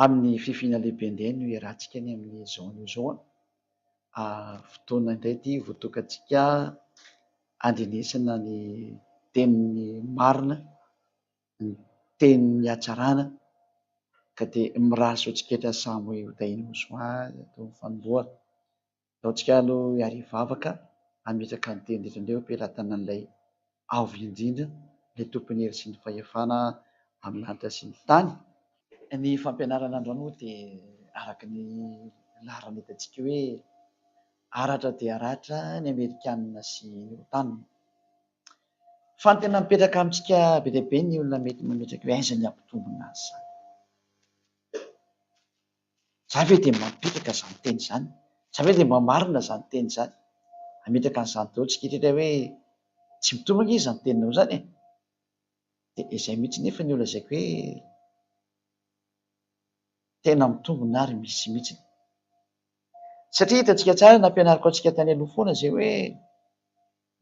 Amin'ny fifiana lehibe indray no iarahantsika any amin'ny zone io zao a. Fotoana indray ity votokantsika handrenesana ny tenin'ny marina ny tenin'ny hatsarana ka dia mirary soa tsiketra samy ho tahian'ny mosoara eto amin'ny fanombohana. Ataontsika aloha hiaria vavaka hametraka ny teny rehetra indray eo am-pelatanan'ilay Avo Indrindra, ilay Tompon'ny hery sy ny fahefana amin'ny lanitra sy ny tany. Ny fampianarana androany moa dia araka ny laharana hitantsika eo hoe, Aratra dia ratra ny Amerikanina sy ny Otan. Fa ny tena mipetraka amintsika be dia be ny olona mety mametraka hoe aiza ny hampitombina azy izany. Za ve dia mba mipetraka izany teny izany? Za ve dia mba marina izany teny izany? Hametraka an'izany daholo isika hatreto hoe tsy mitovy ange izany teninao izany e! Dia izay mihitsy nefa no lazaiko hoe tena mitombina ary misy mihitsy. Satria hitantsika tsara, nampianariko antsika tany aloha foana izay hoe.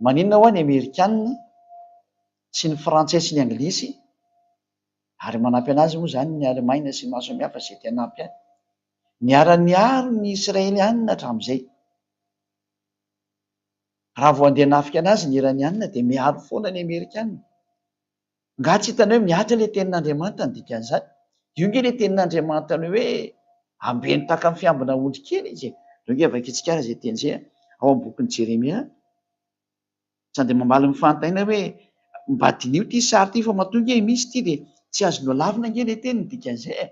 Maninona hoa ny amerikanina tsy ny frantsay sy ny anglisy ary manampy anazy moa zany ny alemaina sy ny maro samihafa zay te hanampy any. Niara niaro ny israelianina hatramizay. Raha vao andeha hanafika anazy ny iranianina dia miaro foana ny amerikanina. Nga tsy hitanay hoe mihatra ilay tenin'Andriamanitra ny dikan'izany? Io nge ilay tenin'Andriamanitra ny hoe ambeno tahaka ny fiambina ondry kely izy e! Reo nge vakintsika ary izay teny izay ao amin'ny bokin'i Jeremia, sady dia mamaly ny fanontaniana hoe mba diniho ity sary ity fa matoa nge misy ity dia tsy azo nolavina nge ilay teny ny dikan'izay e!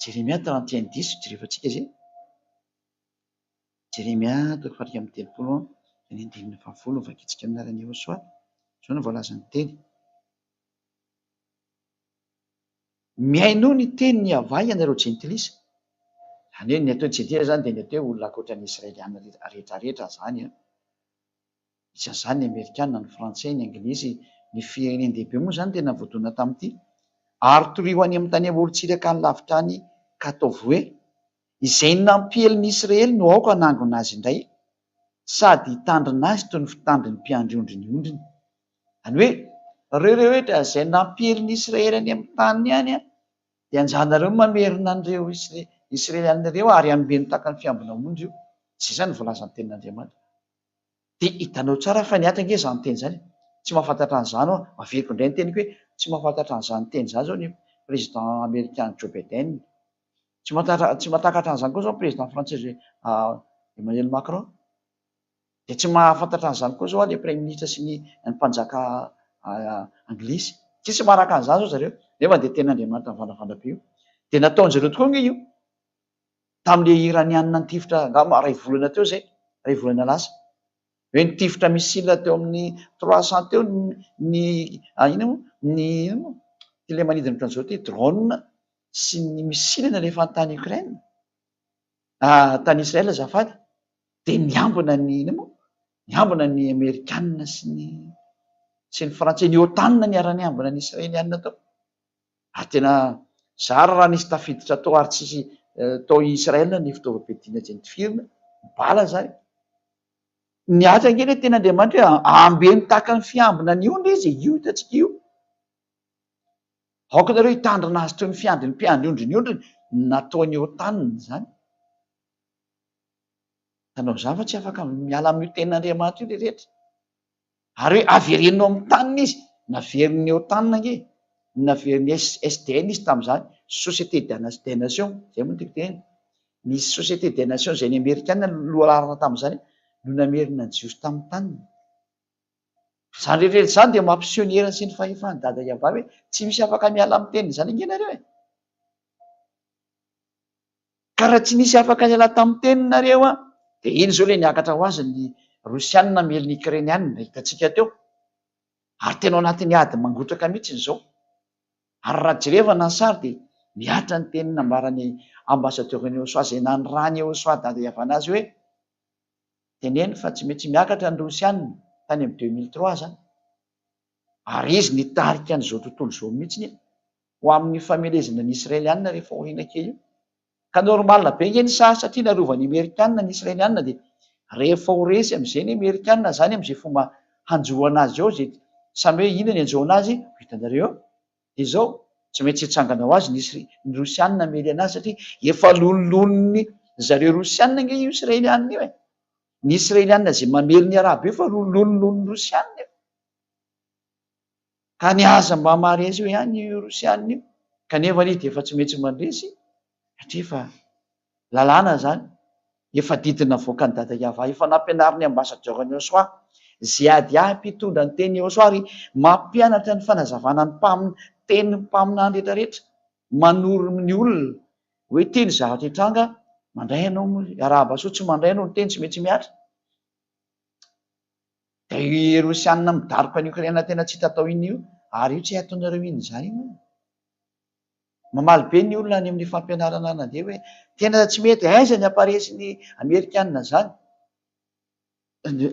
Jeremia trente et un dix, jerevantsika izay. Jeremia toko faha iraika amby telopolo eo amin'ny andininy faha folo, Vakitsika amin'ny alalan'i Yehosua, izao no voalazan'ny teny, Mihainoa ny tenin'i Yavah ianareo jentilisa, izany hoe ny atao hoe jentilisa izany dia ny atao hoe olona ankoatra ny Israeliana rehetrarehetra izany an. Isan'izany ny Amerikana, ny Frantsay, ny Anglisy, ny firenen-dehibe moa izany tena voadona tamin'ity. Ary torio any amin'ny tany amorontsiraka any lavitra any ka ataovy hoe, Izay nampiely ny Isiraely no aoka hanangona azy indray, sady hitandrina azy toy ny fitandrin'ny mpiandry ondry ny ondriny. Any hoe, Ry rehetra izay nampiely ny Isiraely any amin'ny taniny any, dia anjaranareo ny mamerina an'ireo Isiraelianina ireo ary hanomen-taka ny fiambina ondry io. Izay izany no voalazan'ny Tenin'Andriamanitra. Dia hitanao tsara fa niatrika ange izany teny izany e! Tsy mahafantatra an'izany ho'a. Averiko indray ny teniko hoe tsy mahafantatra an'izany teny izany izao ny Président Amerikana Joe Biden. Tsy mahantatra, tsy mahatakatra an'izany koa izao ny Président Frantsay Emmanuel Macron. Dia tsy mahafantatra an'izany koa izao ilay Praiminisitra sy ny ny Mpanjaka Anglisy. Tsisy manaraka an'izany izao zareo. Nefa dia tenin'Andriamanitra mivandravandra be io. Dia nataon'izareo tokoa ange io. tamin'ilay Iraniana nitifitra angamba iray volana teo izay, iray volana lasa, hoe nitifitra missile teo amin'ny trois cent teo ny ny inona moa ny inona moa ity ilay manidina ohatran'izao ity, drone sy ny missile nalefany tany Ukraine, tany Israel azafady, dia niambina ny inona moa, niambina ny Amerikana sy ny sy ny Frantsay, ny OTAN niara-niambina ny Israeliana tao. Ary tena zara raha nisy tafiditra tao ary tsy tao Israël ny fitaovam-piadiana izay nitifirina, ny bala izany. Niady ange ilay teny Andriamanitra hoe ambeno tahaka ny fiambina ny ondry izy, io hitantsika io. Aoka ianareo hitandrina azy toy ny fiandry ny mpiandry ondry ny ondriny, ny nataon'i Othan izany. Tanao izany fa tsy afaka miala amin'io tenin'Andriamanitra io ilay rehetra. Ary hoe avereno ao amin'ny taniny izy, naveriny eo taniny ange, naveriny SDN izy tamin'izany, Société des Nations, izay moa no tiako tenenina. Ny Société des Nations izay ny Amerikana no lohalaharana tamin'izany no namerina ny Jiosy tamin'ny taniny. Izany rehetrarehetra izany dia mampiseho ny heriny sy ny fahefan'i Dada Yavah hoe tsy misy afaka miala amin'ny teniny izany ange nareo e! Ka raha tsy nisy afaka niala tamin'ny teninareo an! Dia iny izao ilay niakatra ho azy ny Rosianina miely ny Ikrenianina, hitantsika teo. Ary tena ao anatin'ny ady mangotraka mihitsy izao. Ary raha jerevana ny sary dia mihatra ny teny nambaran'ny Ambassadeur'i Eosoa izay nanirahan'i Eosoa dada ihavanana azy hoe, Teneno fa tsy maintsy miakatra ny Rosianina, tany amin'ny deux mille trois izany. Ary izy nitarika an'izao tontolo izao mihitsy e! ho amin'ny famelezana ny Israelianina rehefa aoriana kely io. Ka normal be nge ny saha satria narovan'ny Amerikana ny Israelianina dia rehefa ho resy amzay ny Amerikana zany amzay fomba hanjo anazy ao zay samy hoe ina ny anjo anazy ho hitanareo eo dia zao tsy maintsy hitsangana ho azy ny Rosianina hamely anazy satria efa loniloniny zareo Rosianina nge io Israelianina io e! Ny Israelianina zay mamely ny Arabo io efa loniloniny Rosianina io. Tany aza mba maharesy eo ihany io Rosiana io kanefa izy dia efa tsy metsy mandresy satria efa lalàna izany, efa didy navoaka an'i Dada Yava, efa nampianarin'ny ambasadiora an'i Oswa, Ziadia mpitondra ny tenin'i Oswa ary mampianatra ny fanazavana ny mpam, tenin'ny mpaminany rehetra rehetra, manoro ny olona hoe ity ny zavatra hitranga, mandray ianao moa, arahaba soa, tsy mandray ianao ny teny tsy metsy mihatra. Ry Rosiana midaroka an'i Okraina tena tsy hita atao iny io ary io tsy hay ataonareo iny izany io. Mamaly be ny olona any amin'ny fampianarana na dia hoe tena tsy mety aiza ny hamparesin'ny Amerikana izany.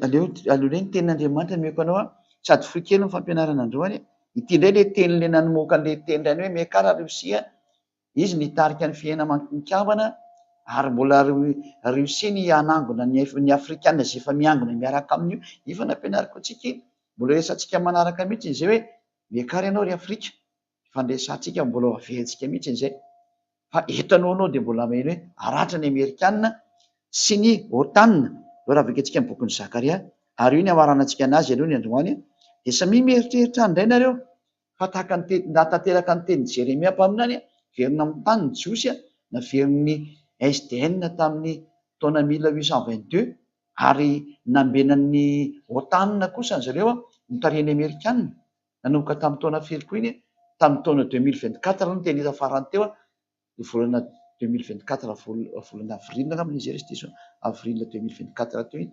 Aleo aleo ny tenin'Andriamanitra no meko anao sady fohy kely ny fampianarana androany. Ity indray ilay teny ilay namoaka an'ilay teny indray hoe meka ary Rosia Izy nitarika ny fihenam-kambana ary mbola reussiny hanangona ny afrikana izay efa miangona miaraka aminy io. Efa nampianariko antsika iny, mbola resahantsika manaraka mihitsy izay hoe miakara ianao ry afrika, efa niresahantsika mbola ho averentsika mihitsy izay fa eto aloha anao dia mbola maheno hoe haratra ny amerikana sy ny otan izao raha vakiantsika ny bokin'i zakaria ary io ny hamaranantsika anazy aloha ny androany dia samia mieritreritra any indray nareo Fa tahaka ny teny, raha tanteraka ny tenin'i Jeremia mpaminany, Verina amin'ny tany ny Jiosy, naverin'ny SDN tamin'ny taona mille huit cent vingt-deux, ary nambenan'ny OTAN kosa an'izy ireo, notarihin'ny Amerikana, nanomboka tamin'ny taona firy koa iny, tamin'ny taona deux mille vingt-quatre aloha ny teny hita farany teo, ny volana deux mille vingt-quatre, volana avril angamba ilay izy, ary izy diso an, avril deux mille vingt-quatre teo iny.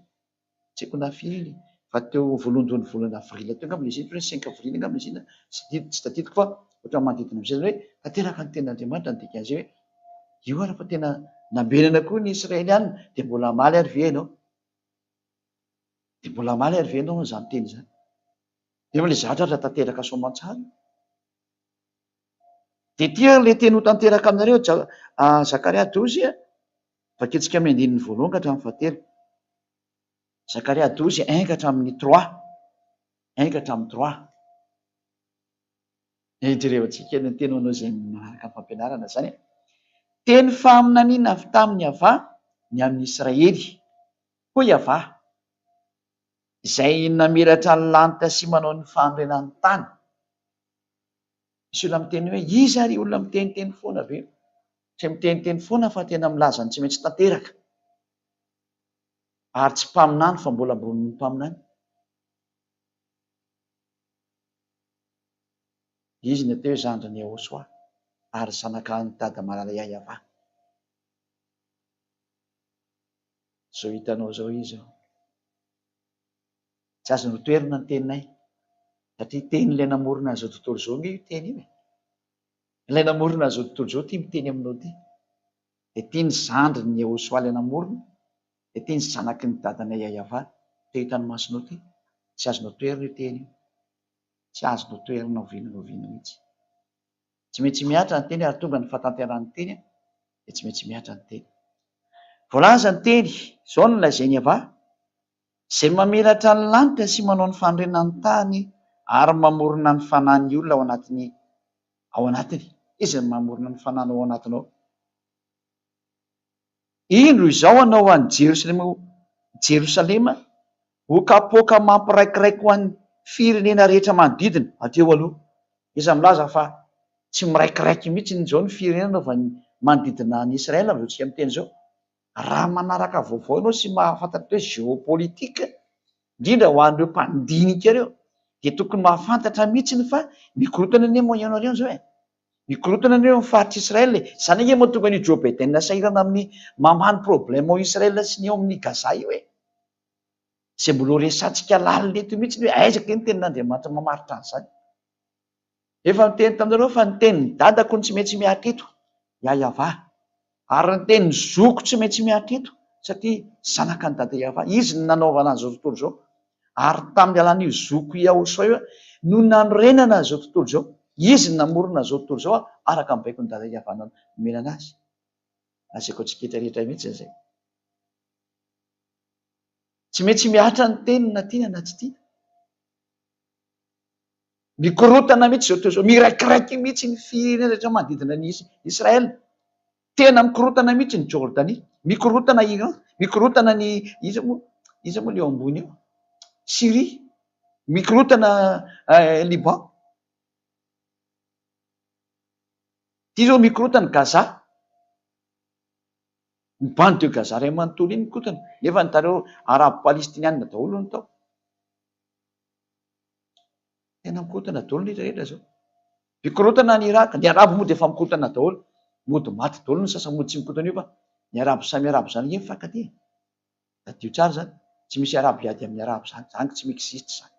tsy haiko na firy iny fa teo voalohandohan'ny volana avril teo angamba ilay izy iny, ohatran'ny hoe cinq avril angamba ilay izy iny, tsy tadidiko fa ohatran'ny manodidina amin'izay, izany hoe tanteraka ny tenin'Andriamanitra ny dikan'izay hoe, io ary fa tena nambenana koa ny Israelianina, dia mbola hamaly ary ve ianao? Dia mbola hamaly ary ve ianao an'izany teny izany? Nefa ilay zavatra aza tanteraka soamantsara io. Dia ity ary ilay teny ho tanteraka aminareo, Zakaria douze, Vakitsika amin'ny andininy voalohan ka hatramin'ny fahatelo. Zakaria douze un ka hatramin'ny trois un ka hatramin'ny trois. Jerevantsika ny teny manao izay manaraka ny fampianarana izany. Teny faminaniana avy tamin'i Yavah ny an'ny Israely. Hoy Yavah, Izay namiratra ny lanitra sy manao ny fanorenan'ny tany. Misy olona miteny hoe, iza ary io olona miteniteny foana be io? Tsy miteniteny foana fa tena milaza ny tsy maintsy tanteraka. Ary tsy mpaminany fa mbola ambonin'ny mpaminany. Izy no teo zandrin'i Yehosua ary zanakalahin'i Dada malala Yayava. Izao hitanao izao izy. Tsy azo notoherina ny teninay satria tenin'ilay namorona an'izao tontolo izao ange io teny io e! Ilay namorona an'izao tontolo izao tia miteny aminao ity, dia tia ny zandrin'i Yehosua ilay namorona, dia tia ny zanaky ny dadanay Yayava te hita ny masonao ity. Tsy azo notoherina io teny io. Tsy azo notoherina oviana na oviana mihitsy. Tsy maintsy mihatra ny teny ary tonga ny fahatanteran'ny teny dia tsy maintsy mihatra ny teny. Voalaza ny teny izao no nolazain'i Yavah, Izay mamiratra ny lanitra sy manao ny fanorenana ny tany ary mamorona ny fanan'ny olona ao anatiny ao anatiny. Iza no mamorona ny fananao ao anatinao? Indro izao hanao an'i Jerosalema ho Jerosalema ho kapoaka mampiraikiraiky ho an'ny firenena rehetra manodidina. Hatreho aloha, iza milaza fa tsy miraikiraiky mihitsy izao ny firenena manodidina an'i Israël amin'izao tsika miteny izao? raha manaraka vaovao ianao sy mahafantatra hoe géopolitique, indrindra ho an'ireo mpandinika ireo, dia tokony mahafantatra mihitsy fa mikorontana anie moa ianareo izao e! Mikorontana anie ny faritr' Israël e! Izany ange mahatonga an'io Joe Biden sahirana amin'ny mamaha ny problème ao Israël sy ny ao amin'ny Gaza io e! Izay mbola ho resahantsika lalina eto mihitsy hoe aiza kay ny tenin'Andriamanitra mamaritra an'izany? Efa niteny taminareo fa ny tenin'ny dadako no tsy maintsy miatrika eto, Yayava. Ary ny tenin'ny zokiko tsy maintsy miatrika eto, satria zanaka an'i Dada Yayava. Izy no nanaovana an'izao tontolo izao. Ary tamin'ny alalan'io zokiko Yahoshua io no nanorenana izao tontolo izao. Izy no namorona izao tontolo izao araka ny baikon'i Dada Yayava nomenana azy. Lazaiko antsika rehetra rehetra mihitsy izay. Tsy maintsy mihatra ny teniny na tiana na tsy tiana. Mikorontana mihitsy izao tontolo izao. Miraikiraiky mihitsy ny firenena rehetra manodidina an'i Israël. Tena mikorontana mihitsy ny Jordanie. Mikorontana Iran. Mikorontana ny, iza moa, iza moa ilay eo ambony eo? Syrie. Mikorontana Liban. Ity izao mikorontana Gaza. Ny bande de Gaza iray manontolo iny mikorontana. Nefa ny tareo Arabo Palestiniana daholo no tao. Tena mikorontana daholo ny rehetra zao. Mikorontana any Iraka, ny arabo moa dia efa mikorontana daholo, mody maty daholo ny sasany mody tsy mikorontana io fa ny arabo samy arabo zany nge mifankatia. Tadidio tsara zany, tsy misy arabo hiady amin'ny arabo zany, zany tsy mi-existe zany.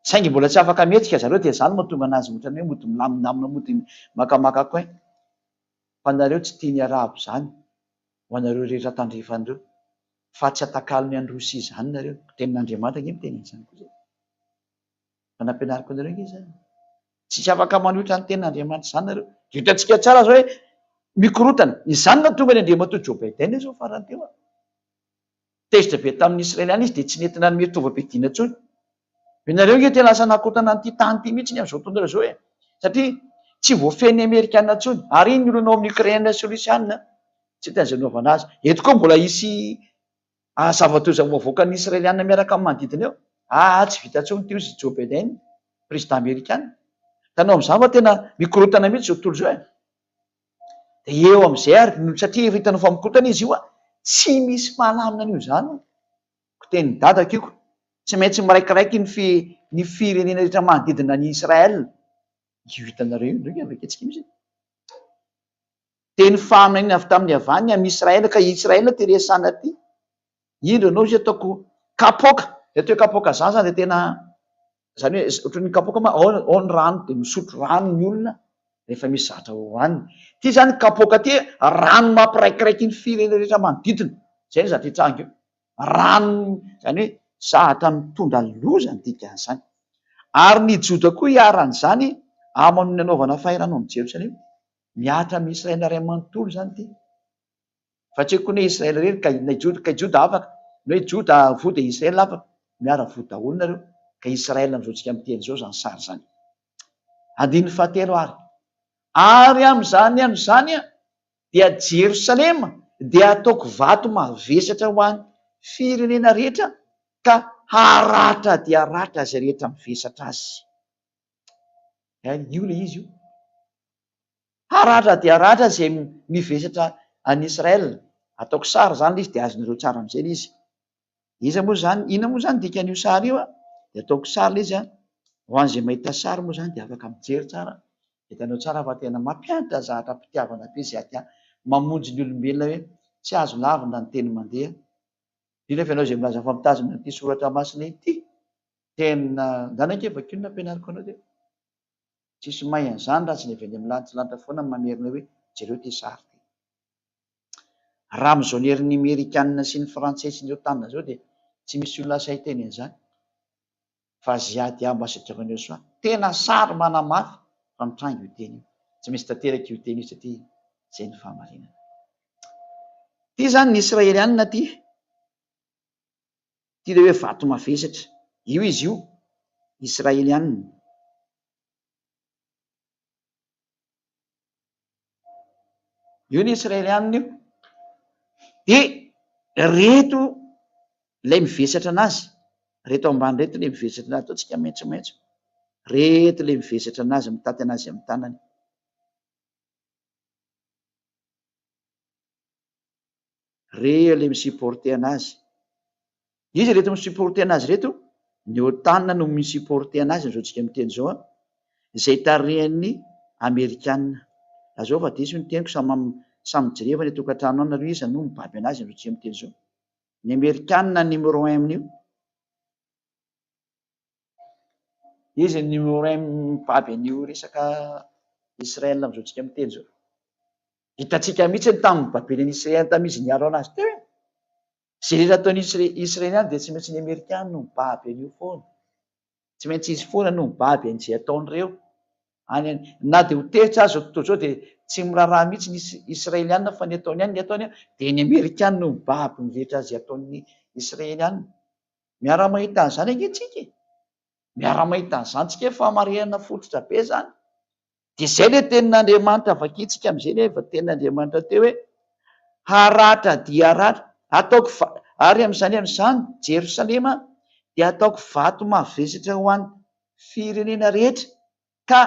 Saingy mbola tsy afaka mihetsika zareo dia zany mahatonga anazy otrany hoe mody milamindamina mody makamaka coin. Fa nareo tsy tia ny arabo zany. ho anareo rehetra tandrefana ireo, fa tsy atakalony any Rosia izany nareo. Tenin'Andriamanitra ange miteny an'izany koa izay. Efa nampianariko anareo ange izany. Tsisy afaka manohitra ny tenin'Andriamanitra izany nareo. Dia hitantsika tsara izao hoe mikorotana. Izany no nahatonga ny Andriamatoa Joe Biden izao farany teo an. Tezitra be tamin'ny Israeliana izy dia tsy nety nanome tovam-piadiana intsony. Ianareo ange te lasa nakotana an'ity tany ity mihitsy amin'izao tontolo izao e! Satria tsy voafehin'ny Amerikana intsony. Ary iny ny olana ao amin'ny Ukraine sy Russiana tsy te an'izay anaovana azy. Eto koa mbola hisy zava-toy izao ho avoakan'ny Israeliana miaraka amin'ny manodidina eo. Aa tsy vita intsony ity hoy i Joe Biden, prezida Amerikana. Hitanao amin'izany fa tena mikorontana mihitsy izao tontolo izao e! Dia eo amin'izay ary no satria efa hitanao fa mikotana izy io a! tsy misy mahalamina an'io izany o! ko tenin'i dadako io ko tsy maintsy miraikiraiky ny fi ny firenena rehetra manodidina an'i Israël io hitanareo io, ndrey aveketsika misy e! teny faminaniana avy tamin'ny havaniny amin'i Israël ka i Israël te resahina aty. indro ianao izy ataoko kapoaka, ilay atao hoe kapoaka zaza dia tena izany hoe ohatran'ny kapoaka ma ao ao ny rano dia misotro rano ny olona rehefa misy zavatra hohanina, ity izany kapoaka ity rano mampiraikiraiky ny firenena rehetra manodidina, izay ny zavatra hitranga eo, rano izany hoe zavatra mitondra loza ny dikan'izany, ary ny Joda koa iharan'izany aman'ny nanaovana fahirano an'i Jerosalema, mihatra amin'i Israely iray manontolo izany ity. Fa tsy koa ny hoe Israely irery ka inona Juda, kay Juda afaka, ny hoe Juda voa dia Israely afaka, miara voa daholo nareo, ka Israely amin'izao tsika miteny izao izany sary izany. Andininy fahatelo ary, ary amin'izany andro izany aho dia Jerosalema dia hataoko vato mavesatra ho an'ny firenena rehetra ka haratra dia haratra izay rehetra mivesatra azy. Io ilay izy io. Haratra dia haratra izay mivesatra any Israël, ataoko sary izany ilay izy dia azonareo tsara mijery ilay izy. Iza moa izany, inona moa izany dikan'io sary io an? dia ataoko sary ilay izy an, ho an'izay mahita sary moa izany dia afaka mijery tsara an, dia hitanao tsara fa tena mampianatra zahatra am-pitiavana be izay ati-, mamonjy ny olombelona hoe tsy azo lavina ny teny mandeha, indrindra fa ianao izay milaza fa mitazona ity soratra masina ity, tena, ndana ange vakio ny nampianariko anao dia. Tsisy mahay an'izany raha tsy ny avy any amin'ny lantilanitra foana no mamerina hoe jereo ity sary ity. Raha amin'izao ny herin'ny Amerikanina sy ny Frantsay sy ny Otan izao dia tsy misy olona sahy hiteny an'izany fa Ziad ihany ambasadaoran'i Yosua. Tena sary manamafy fa mitranga io teny io. Tsy misy tanteraka io teny io satria izay no fahamarinana. Ity izany ny Israelianina ity. Ity ilay hoe vato mavesatra. Io izy io, Israelianina. Io ny Israelianina io. Dia ireto ilay mivesatra an'azy. Ireto ambany ireto ilay mivesatra an'azy. Ataontsika maitsomaitso. Ireto ilay mivesatra an'azy, mitaty an'azy amin'ny tanany. re le mi supporter anazy. Iza ireto mi supporter anazy ireto? Ny otan no mi supporter anazy amzao tsika miteny zao an! Zay tarihan'ny amerikana. Lazao fa diso ny teniko samy samy mijireva any atokatrano any nareo iza no mibaby anazy amzao tsika miteny zao? Ny amerikana numéro un amin'io. Iza ny Oren mibaby an'io resaka Israel amin'izao tsika miteny izao? Hitantsika mihitsy ny tamin'ny babeny an'i Israel tamin'ny izy niaro anazy teo e! Ze rehetra ataon'ny Israeliana dia tsy maintsy ny Amerikana no mibaby an'io foana. Tsy maintsy izy foana no mibaby an'izay ataon'ireo. Any, na dia ho tehitra aza tontolo izao dia tsy miraharaha mihitsy ny Israeliana fa ny ataony any ny ataony dia ny Amerikana no mibaby ny rehetra izay ataon'ny Israeliana. Miara-mahita an'izany ange tsika e! Miara-mahita an'izany tsika fa marenina fototra be izany. Dia izay ilay tenin'Andriamanitra vakintsika amin'izay ilay tenin'Andriamanitra teo hoe, haratra dia haratra, hataoko va-, ary amin'izany amin'izany Jerosalema dia hataoko vato mavesatra ho an'ny firenena rehetra, ka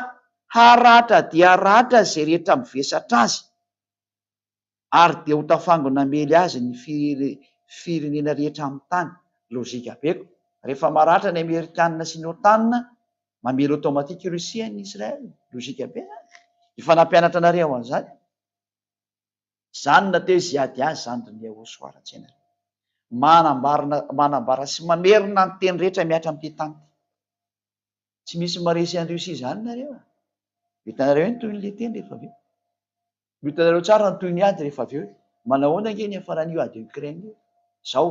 haratra dia haratra izay rehetra mivesatra azy. ary dia ho tafango namely azy ny firenena rehetra amin'ny tany. Lojika be ko. Rehefa maratra ny amerikanina sy ny otan, mamely automatique i Russie an'i Israel. Lojika be zany. Efa nampianatra anareo an'izany aho. Izany na teo izy ady azy izany ry Niahoso ho ara-tsaina ry. Manambarina manambara sy mamerina ny teny rehetra mihatra amin'ity tany ity. Tsy misy maresy an'i Russie izany nareo a. Ho hitanareo eny tohin'ilay teny rehefa avy eo. Ho hitanareo tsara ny tohin'ny ady rehefa avy eo e! Manahoana ange ny hiafaran'io ady Ukraine io? Izao,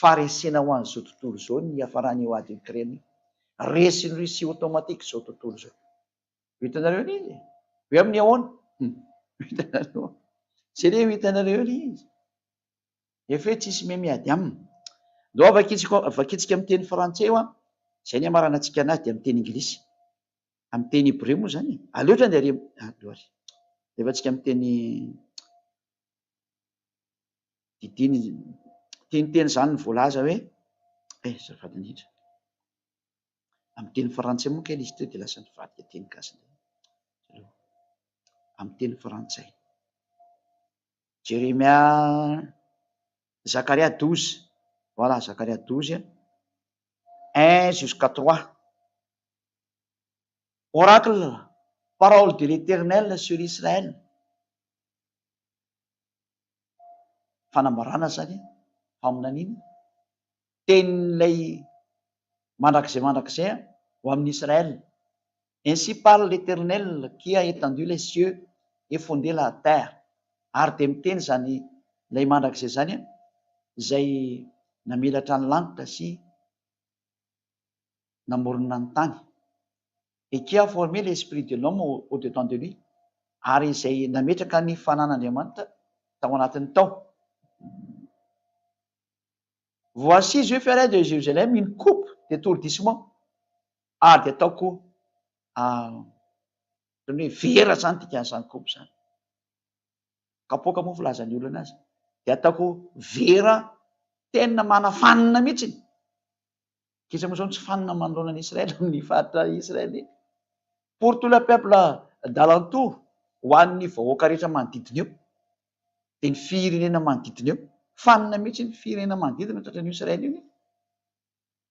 faharesena ho an'izao tontolo izao ny hiafaran'io ady Ukraine io. Resin'i Russie automatique izao tontolo izao. Ho hitanareo ilay izy e! Hoe amin'ny ahoana? Hum! Ho hitanareo an! Izay re ho hitanareo ilay izy. Efa hoe tsisy miha miady aminy. Ndao vakitsiko, vakitsika amin'ny teny frantsay hoa izay ny hamaranantsika anazy dia amin'ny teny Inglisy. Amin'ny teny hebreo moa izany e. Aleo otrany dia ary ah gloire. Alefatsika amin'ny teny didiana izy. Teniteny izany ny voalaza hoe eh azafady indrindra. Amin'ny teny frantsay moa kay ilay izy teo dia lasa nivadika teny gasy indray. Amin'ny teny frantsay. Jeremia Zakaria 12. Voilà, Zakaria 12 1 jusqu'à 3. Oracle, Parole de l'Eternel sur Israel, fanambarana izany e, faminaniana, tenin'ilay mandrakizay mandrakizay ho amin'i Israel, Ainsi parle l'Eternel qui a etendu les cieux et fonde la terre, ary dia miteny izany ilay mandrakizay izany izay namelatra ny lanitra sy. namorona ny tany. Et qui a forme l'esprit de l'homme au dedans de lui, ary izay nametraka ny fanan'Andriamanitra tao anatiny tao. Voici je ferai de Jérusalem une coupe d'étourdissement, ary dia ataoko ohatran'ny hoe vera izany dikan'izany coupe izany, kapoaka moa filazan'ny olona azy, dia ataoko vera tena manafanina mihitsy. Kisa moa izao ny tsy fanina manoloana an'i Israely amin'ny faritra Israelita. Pour tout le peuple d'alentour, ho an'ny vahoaka rehetra manodidina eo, dia ny firenena manodidina eo. Fanina mihitsy ny firenena manodidina tratra an'io Israely io nefa.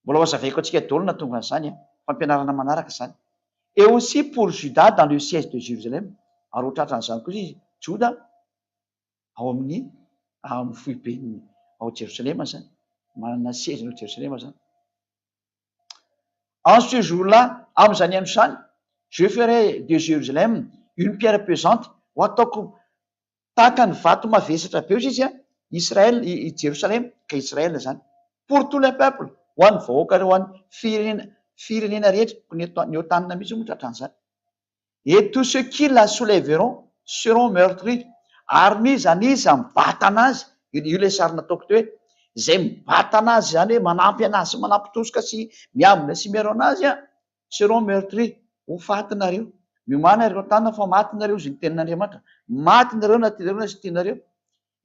Mbola ho hazavaiko antsika daholo ny nahatonga an'izany an! Fampianarana manaraka izany. Et aussi pour Juda dans le siège de Jérusalem, ary ho tratran'izany kosa izy, Joda, ao amin'ny ao amin'ny foibeny ao Jerosalema zany, manana seziny ao Jerosalema zany. En ce jour là, amin'izany andro izany, je ferai de Jérusalem une pierre pesante, ho ataoko tahaka ny vato mavesatra be hozy izy an, Israël, i i Jerosalema, ka Israël zany, pour tous les peuples, ho an'ny vahoaka, ho an'ny firenena, firenena rehetra, ny eto, ny ao tanina mihitsy moa tratran'izany. et tous ceux qui la soulèveront seront meurtris ary n'iza n'iza mibatana azy, io ilay sary nataoko teo hoe izay mibatana azy izany hoe manampy anazy sy manampitosoka sy miambina sy miaro anazy an, seront meurtris, ho faty nareo, miomana ireo tanana fa maty nareo, izy ny tenin'Andriamanitra, maty nareo na tianareo na tsy tianareo.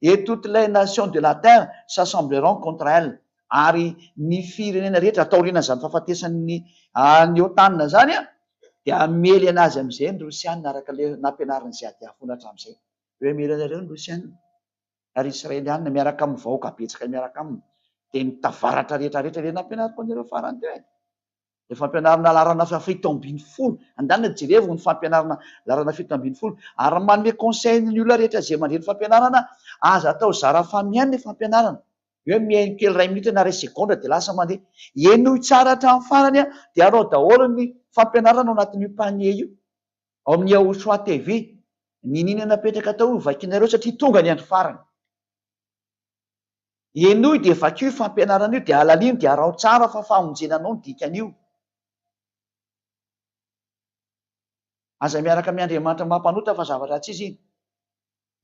Et toutes les nations de la terre s'assembleront contre elle, ary ny firenena rehetra taorian'izany fahafatesan'ny an'i Otana izany dia hamely an'azy amin'izay ny Rosiana araka ilay nampianarin'i Ziadeh foana hatramin'izay hoe mila anareo ny Rosiana ary Israeliana miaraka amin'ny vahoaka betsaka miaraka aminy dia ny tavaratra rehetra rehetra ilay nampianariko anareo farany teo e. Ny fampianarana laharana fito ambin'ny folo, andeha jerevo ny fampianarana laharana fito ambin'ny folo ary manome conseil ny olona rehetra izay mandre ny fampianarana, aza atao zara fa mihaino ny fampianarana, hoe mihaino kely iray minitra na iray segondra dia lasa mandeha, henoy tsara hatramin'ny farany dia arao daholo ny fampianarana ao anatin'io panier io ao amin'ny Yahushua TV, ny nini napetraka tao io vakinareo satria tonga ny andro farany. Henoy dia vakio io fampianarana io dia halalino dia araho tsara fa famonjena anao ny dikan'io. Aza miaraka amin'ny Andriamanitra maha mpanota fa zavatra ratsy izy iny.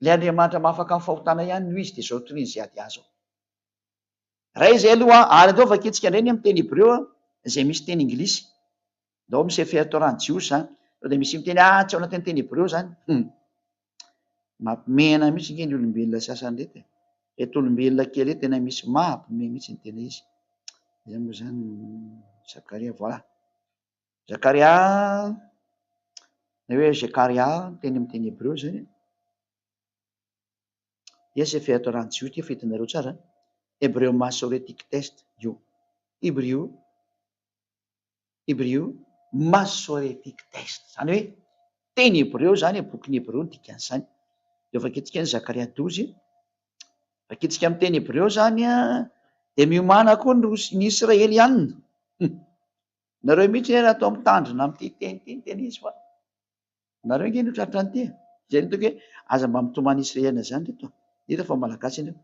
Ilay Andriamanitra maha afaka amin'ny fahotana ihany no izy dia izao toriany izay ady azy ao. Ray izay aloha ary andao vakintsika indray ny amin'ny teny hebreo izay misy teny Inglisy. Ndao amin'ny Sefer Torah ny Jiosy izany. Sao dia misy miteny atsy ao anatin'ny teny hebreo izany? Hum. Mampimehana mihitsy ange ny olombelona sasany reto e. Reto olombelona kely reto tena misy mahampime mihitsy ny tena izy. Izany moa izany Zakaria, voilà. Zakaria, na hoe Zekaria, teny amin'ny teny hebreo izany e. Dia Sefer Torah ny Jiosy, efa hitanareo tsara. Hebreo Masoretic Test, io. Hebrio, Hebreo, Masoretic Text, izany hoe teny hebreo izany e, bokin'ny hebreo no dikan'izany. Dia vakintsika ny Zakaria douze, vakintsika amin'ny teny hebreo izany an, dia miomàna koa ny ny Israelianina. Nareo mihitsy anie raha toa mitandrina amin'ity teny ity ny tena izy fa nareo ange no tratra an'ity e. Izay no tokony hoe aza mba mitomany Israeliana izany ry reto a. Hita fa Malagasy ianareo.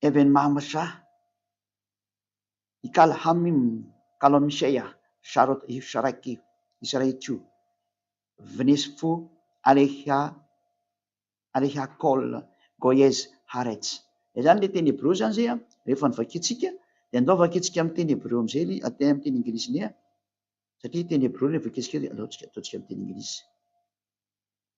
Kevin Mahamasa, Ikala Hamim, Kalo Misheya, Sharot Hifsharaki, Israechu, Vnesfu Aleha Aleha Kol Goyez Haaretz. Izany ilay teny hebreo izany izay rehefa novakiantsika dia andao vakiantsika amin'ny teny hebreo amin'izay ilay atao amin'ny teny anglisy ilay satria teny hebreo ilay vakiantsika dia aleo ataontsika amin'ny teny anglisy.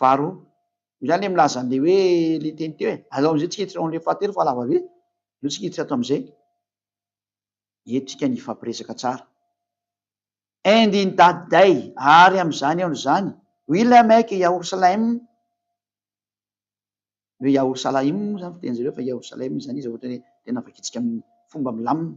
varo io zany le milaza an'le hoe le teny teo e, aleo am'zay tsy hiditra ao am'le fahatelo fa lava be, aleo tsika hiditra ato am'zay, entintsika ny hifampiresaka tsara. And in that day, ary am'zany andro zany, will I make Yahorsalaim, ny hoe Yahorsalaim moa zany fitenin'zareo fa Yahorsalaim zany izy raha ohatra hoe tena vakintsika amin'ny fomba milamina,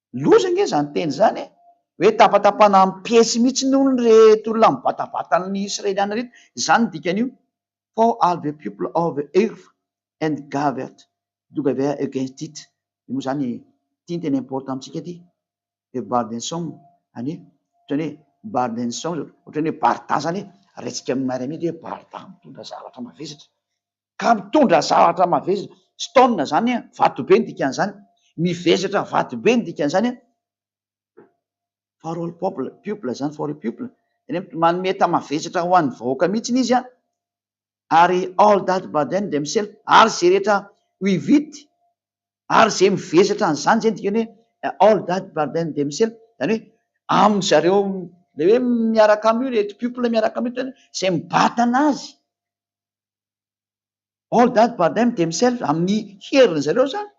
Loza ange izany teny izany e! Hoe tapatapana am piesy mihitsy ny olony reto olona mibatavata ny Israeliana reto, izany ny dikan'io, for all the people of the earth and gathered together against it, io moa izany ity ny tena important amintsika ity, the burden song anie, ohatrany hoe burden song, ohatrany hoe barda izany e, raha isika miara-mihidy hoe barda mitondra zavatra mavesatra. Ka mitondra zavatra mavesatra, stone zany an, vatobe ny dikan'izany, mivesatra vatobe ny dikan'izany an, for all people, people zany, for all people, zany hoe manome entana mavesatra ho an'ny vahoaka mihitsiny izy an, ary all that burden themselves, ary izay rehetra with it, ary izay mivesatra an'izany, izay no dikany hoe all that burden themselves, zany hoe amin'ny zareo, ilay hoe miaraka aminy io, ireto people miaraka aminy io, izay mibatana azy. All that but them themselves amin'ny heriny zareo zany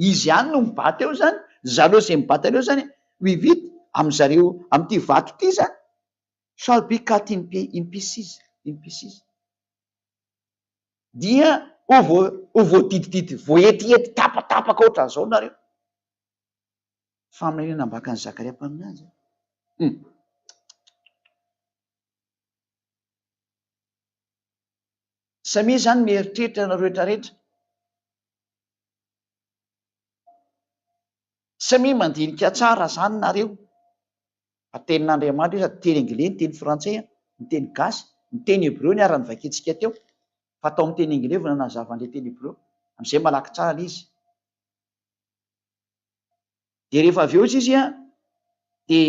izy ihany no mibata eo zany zareo ze mibata an'io zany we vita am zareo amty vato ity zany shall be cut in pi in pieces in pieces dia ho vo ho voadidididdy voaetihety tapatapaka ohatran zao nareo faminaniana ambakan'i zakaria mpaminany zany hum Samia izany mieritreritra ianareo rehetra rehetra. Samia mandinika tsara izany nareo fa tenin'Andriamanitra io sady teny anglais ny teny frantsay an, ny teny gasy, ny teny hebreo niara nivakiantsika teo fa tao amin'ny teny anglais vao nanazava an'ilay teny hebreo, amin'izay malaky tsara ilay izy. Dia rehefa avy eo izy izy an dia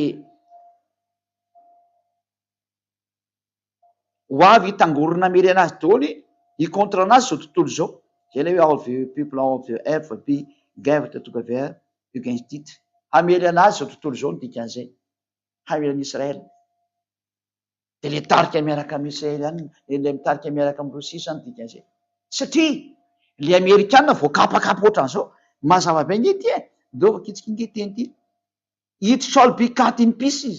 ho avy hitangorona miri anazy daholo hi contre anazy zao tontolo zao zay le hoe all the people all the ever be gathered together against it hamely anazy zao tontolo zao ny dikan'izay hamely an'i Israel de le tarika miaraka amin'ny Israeliana le le mitarika miaraka amin'ny Rosia zany dikan'izay satria le amerikana vao kapakapa ohatran'izao mazava be nge ty e ndovako itsika nge teny ty it shall be cut in pieces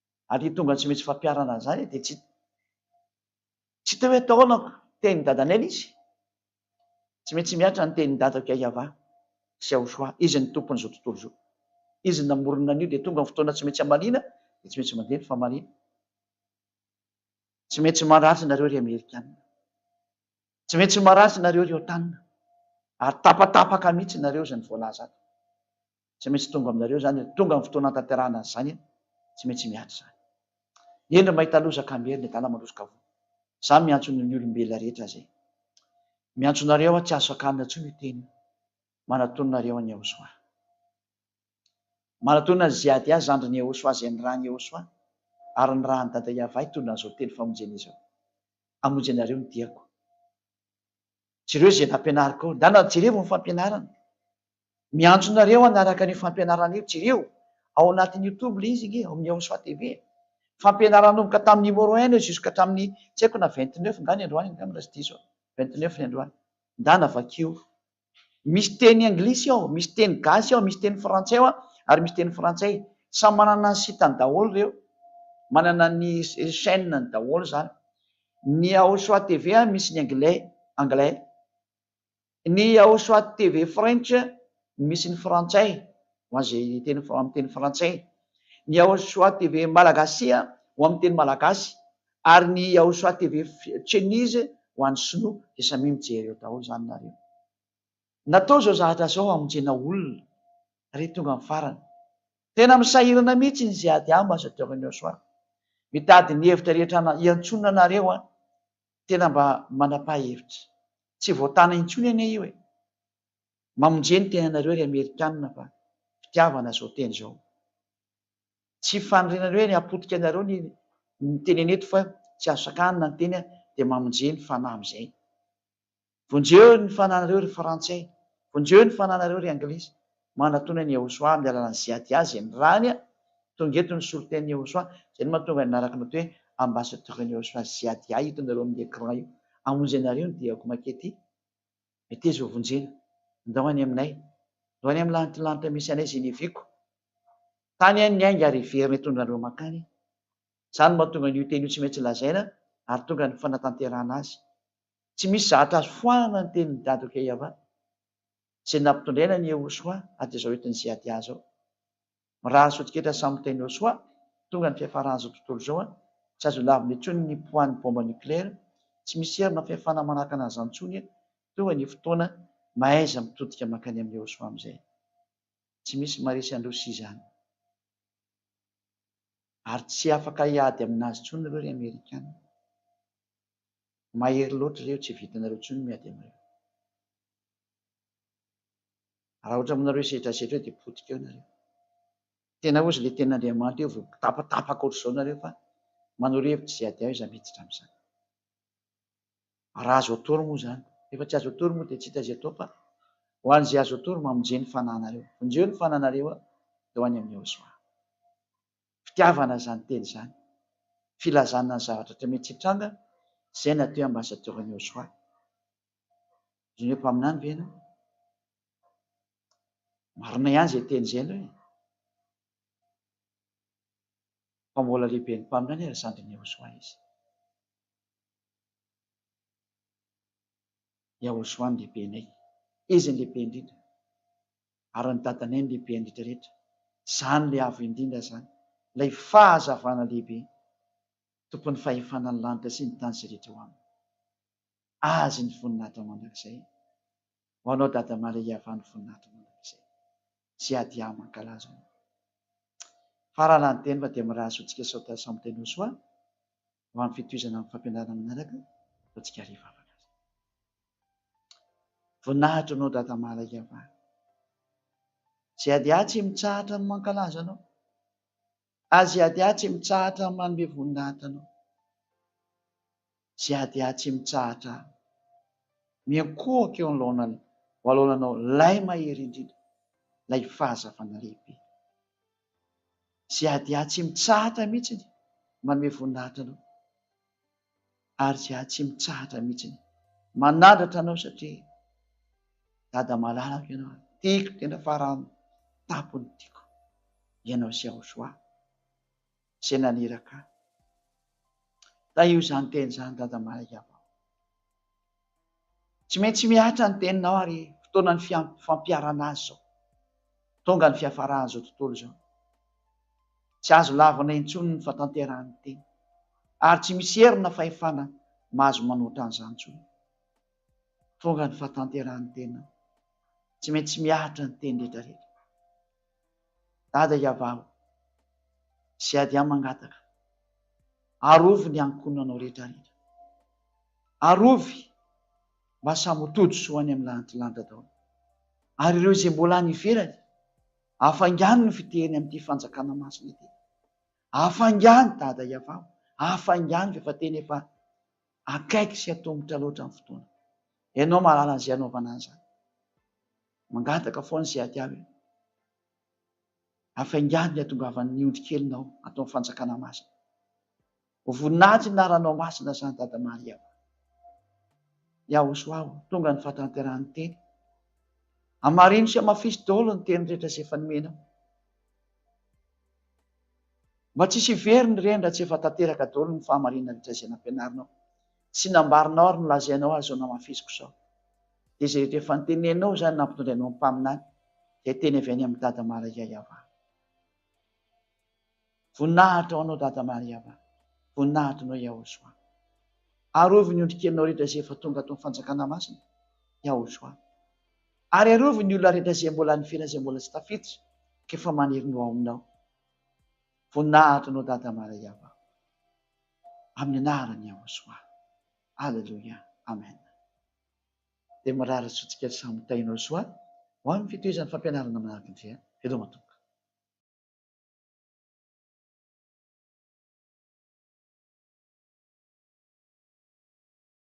ary tonga tsy misy fampiharana an'izany dia tsy tsy te hoe taonako tenin'i Dadanel izy. Tsy maintsy mihatra ny tenin'i Dadako Yahvah sy Yahoshua, Izy ny Tompon'izao tontolo izao. Izy no namorona an'io dia tonga ny fotoana tsy maintsy hamaliana dia tsy maintsy mandeha ny famaliana. Tsy maintsy marary nareo ry Amerikana. Tsy maintsy marary nareo ry Otan. Ary tapatapaka mihitsy nareo izany voalaza ato. tsy maintsy tonga aminareo izany ry tonga ny fotoana hanatanterahana an'izany e! tsy maintsy miady izany eny ry mahita loza ka miery ny adala mandroso ka voa za miantso ny ny olombelona rehetra izay miantso anareo aho tsy azo sakanina intsony io teny manatonina nareo an'i Yehosua manatonina ny ziady azy zandrin'i Yehosua izay nirahan'i Yehosua ary nirahan'i Dada Yavah hitondra an'izao teny famonjena izao hamonjy anareo ny diako jereo izay nampianariko ao ndana jerevo ny fampianarana Miantso nareo hanaraka an'io fampianarana io jereo ao anatin'ny youtube ilay izy ange ao amin'ny Yahoshuah TV e. Fampianarana nanomboka tamin'ny numéro un eo jusque hatramin'ny tsy haiko na vingt neuf nga ny androany angamba raha tsy diso aho, vingt neuf ny androany. Ndana vakio. Misy teny anglisy ao, misy teny gasy ao, misy teny frantsay ao ary misy teny frantsay. Samy manana ny site-ny daholo ireo. Manana ny chaine-ny daholo izany. Ny Yahoshuah TV misy ny anglais, anglais. Ny ao soit TV French no misy ny frantsay, ho an'izay teny amin'ny teny frantsay. Ny ao soit TV Malagasia ho amin'ny teny malagasy. Ary ny ao soit TV Chinese ho an'ny sinoa. Dia samia mijery eo daholo izany nareo. Natao izao zavatra izao hamonjena olona re tonga amin'ny farany. Tena misahirana mihitsy ny Ziady ambassadeur-n'ny ao soit. Mitady ny hevitra rehetra hiantsoana anareo aho. Tena mba manapahevitra. Tsy voatana intsony anie io e. Mamonje ny tenanareo ry amerikanina fa fitiavana zao teny zao. Tsy fanorenana hoe ny hapotika anareo ny ny tenena eto fa tsy azo sakanana ny teny dia mamonje ny fanahy amizay. Vonjeo ny fananareo ry frantsay, vonjeo ny fananareo ry anglisy, manatona an'i Yehosua amin'ny alalan'i Ziad-Yah izay ny rany a! Tonga eto ny solotenan'i Yehosua, izay no mahatonga ny naraka nato hoe ambassadeur-n'i Yehosua Ziad-Yah hitonareo amin'ny écran io, hamonjy anareo ny diako makety meteza ho vonjena, ndao any aminay, ndao any amin'ny lantilanitra misy anay izay niaviako, tany any ny ainga ary heverina hitondra anareo mankany e! Izany no mahatonga an'io teny io tsy maintsy lazaina ary tonga ny fanatanterahana azy. Tsy misy zahatra azo foanana ny tenin'i Dado Keyava, izay nampitondraina an'i Yehosua ady izao entin'i Zeadia izao. Mirary sotin-ketra samy miteny Yosua, tonga ny fiafaran'izao tontolo izao, tsy azo lavina intsony ny poids-n'ny bomba nucléaire, tsy misy hery na fihafana manahaka an'izany intsony, tonga ny fotoana, mahaiza mitodika mankany amin'i Yehosua amin'izay. Tsy misy maharesy an-dRosia izany. Ary tsy afaka hiady amin'azy intsony ireo ry Amerikana. Mahery loatra ireo tsy vitanareo intsony ny miady aminareo. Raha ohatra aminareo io sedrasetra io dia potika eo nareo. Tena ozy le tena Andriamanitra io vao tapatapaka ohatr'izao nareo fa manoro hevitra izay ady aiza miditra amin'izany. Raha azo atoro moa izany. Rehefa tsy azo atoro moa dia tsy hita izay atao fa ho an'izay azo atoro mamonje ny fananareo. Vonjeo ny fananareo dia ho any amin'i Yahoshuah. fitiavana izany teny izany, filazana ny zavatra rehetra mety hitranga, izay natao hoe ambassadeur an'i Yosua. Ohatrany hoe mpaminany ve ianao? Marina ihany izay teny izay ianao e! Fa mbola lehiben'ny mpaminany ary zandrin'i Yosua izy. Yosua no lehibenay, izy no lehibe indrindra. ary ny dadanay no lehibe indrindra rehetra, izany ilay avo indrindra izany, ilay fahazavana lehibe, Tompon'ny fahefana ny lanitra sy ny tany izay rehetra ao aminy. Azy ny voninahitra mandrakizay. Ho anao Dada Maria Iavà ny voninahitra mandrakizay. Siadia mankalaza anao. Farala ny teny fa dia mirary zontsika sao taiza samy tenosoa. ho amin'ny fitohizana amin'ny fampianarana manaraka fa tsy kary vavaka aza. Voninahitra anao Dada Mala Iavana. Izay ady atsy mitsahatra ny mankalaza anao. Azy ady atsy mitsahatra ny manome voninahitra anao. Izay ady atsy mitsahatra miankohoka eo anlaonany ho alaonanao lay mahery indrindra, lay fahazavana lehibe. Izay ady ahy tsy mitsahatra mihitsiny manome voninahitra Anao. Ary izay ahy tsy mitsahatra mihitsiny manandratra Anao satria Dada malalako Ianao, tiako tena faran'ny tampon'ny tiako. Ianao sy Yahushua izay naniraka ahy. Tahio izany teny izany Dada Mahay Yavao. Tsy maintsy mihatra ny teninao ary fotoanan'ny fampiharana azy izao. Tonga ny fiafaran'izao tontolo izao. Tsy azo lavina intsony ny fahatanterahan'ny teny, ary tsy misy hery na fahefana mahazo manoatra an'izany intsony. Tonga ny fahatanterahan'ny tena. Tsy maintsy mihatra ny teny rehetrarehetra. Dada iavaho sy ady ahy mangataka, arovy ny ankohonanao rehetra rehetra. Arovy mba samy ho tody soa any amin'ny lantilanitra daholo. Ary ireo izay mbola any ivelany, afaingano ny fiteriny amin'ity fanjakana masina ity. Afaingano Dada iavaho, afaingano rehefa tena efa akaiky sy atomotra loatra ny fotoana. Ianao mahalala izay anaovana an'izany. Mangataka foana sy ady avy aho. Hafaingano ny hatongavan'ny ondry kelinao ato amin'ny fanjakana masina. Ho voninahitry ny anaranao masina izany Dada Maria ô. Yahosoah ô, tonga ny fahatanterahan'ny teny. Hamarino sy hamafiso daholo ny teny rehetra izay efa nomenao. Mba tsy hisy hiverina ireny raha tsy efa tanteraka daholo ny fahamarinana rehetra izay nampianarinao. Tsy nambarinao ary nolazainao azy izao namafisiko izao. Dia izay rehetra efa noteneninao izany nampitondrainao ny mpaminany izay teny avy any amin'i Dada Maria Yavah. Voninahitra ho anao Dada Maria Yavah. Voninahitra anao Yahoshua. Arovy ny ondrikelinao rehetra izay efa tonga ato amin'ny fanjakana masina Yahoshua. Ary arovy ny olona rehetra izay mbola nifela izay mbola tsy tafiditra ka efa maniry ny ho ao aminao. Voninahitra anao Dada Maria Yavah. amin'ny anaran'i Yahoshuah. Aleloia. Amen. Dia mirary hatsontsika samy Tahin'i Yahoshuah ho amin'ny fitohizan'ny fampianarana manaraka indray. Veloma Tompo.